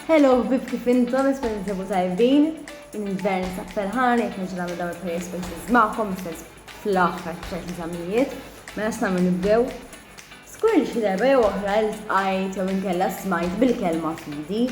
Hello, bib kif intom, nisma ninsabu tajbin, in-invern sa' ferħan, jek nġu namlu dawn il-prayer spaces ma'kom, istess fl-axħar ċerti tamijiet, ma mela nastamu nibdew. Skur li xi darba jew oħra l-tqajt jew inkella smajt bil-kelma fidi.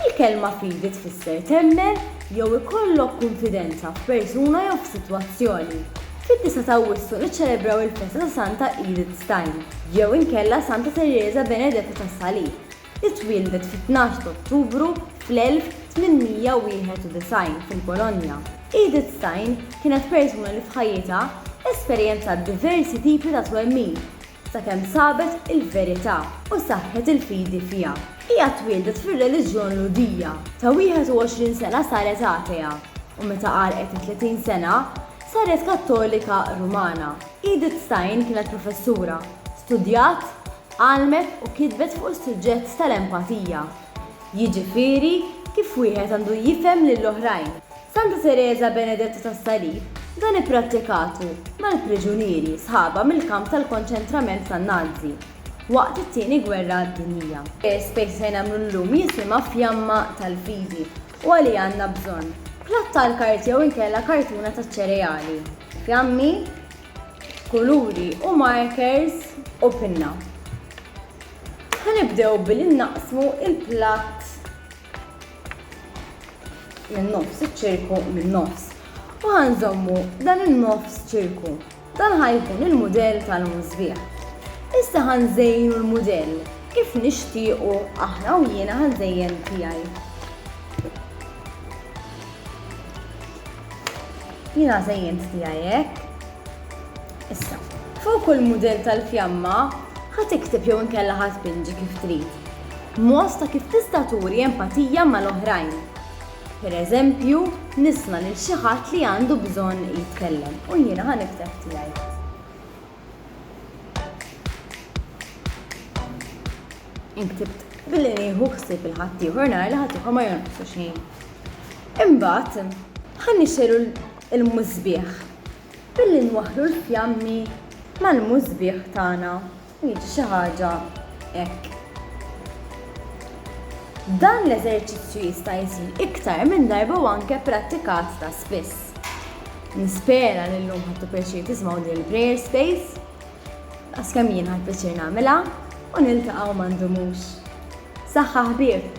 Il-kelma fidi tfisser temmen jew ikollok konfidenza f'persuna jew f'sitwazzjoni. Fid-disgħa ta' Awwissu niċċelebraw il-festa ta' Santa Edith Stein, jew inkella Santa Tereża Benedetta tas-Salib, li twieldet fit-tnax ta' Ottubru fl-1891 fil-Polonja. Edith Stein kienet persuna li f'ħajjitha esperjenzat diversi tipi ta' twemmin, sakemm sabet il-verità u saħħet il-fidi fiha. Hija twieldet fir-reliġjon Lhudija, ta' 21 sena saret atea, u meta għalqet it-30 sena, saret Kattolika Rumana. Edith Stein kienet professura, studjat, għallmet u kitbet fuq is-suġġett tal-empatija, jiġifieri kif wieħed għandu jifhem lill-oħrajn. Santa Tereża Benedetta tas-Salib dan ipprattikatu mal-priġunieri sħabha mill-kamp tal-konċentrament tan-Nazi waqt it-Tieni Gwerra Dinjija. L-ispejs li se nagħmlu llum jisimha Fjamma tal-Fidi u għalih għandna bżonn, platt tal-kart jew inkella kartuna taċ-ċereali, fjammi, kuluri u markers u pinna. Ħa nibdew billi naqsmu l-platt minn nofs iċ-ċirku minn nofs u ħa nżommu dan in-nofs ċirku. Dan ħa jkun il-mudell tal-musbieħ. Issa ħa nżejnu l-mudell kif nixtiequ aħna u jiena ħa nżejjen tiegħi. Jiena żejjent tiegħi hekk. Issa, fuq kull mudell tal-fjamma, ħa tikteb jew inkella ħa tpinġi kif trid mod ta' kif tista' turi empatija mal-oħrajn. Per eżempju, nisma' lil xi ħadd li għandu bżonn jitkellem u jiena ħa nikteb tiegħi. Inktib billi nieħu ħsieb il-ħaddieħor nara li ħaddieħor ma jonqsu xejn. Imbagħad, ħa nixxelu il-musbieħ, billi nwaħħlu l-fjammi mal-musbieħ tagħna, u jiġi xi ħaġa hekk. Dan l-eżerċizzju jista' jsir iktar minn darba u anke prattikat ta' spiss. Nispera li llum ħadtu pjaċir tiżmaw din il-prayer space, għas kemm jien ħadd pjaċir nagħmilha, u niltaqgħu ma ndumux. Saħħa ħbieb!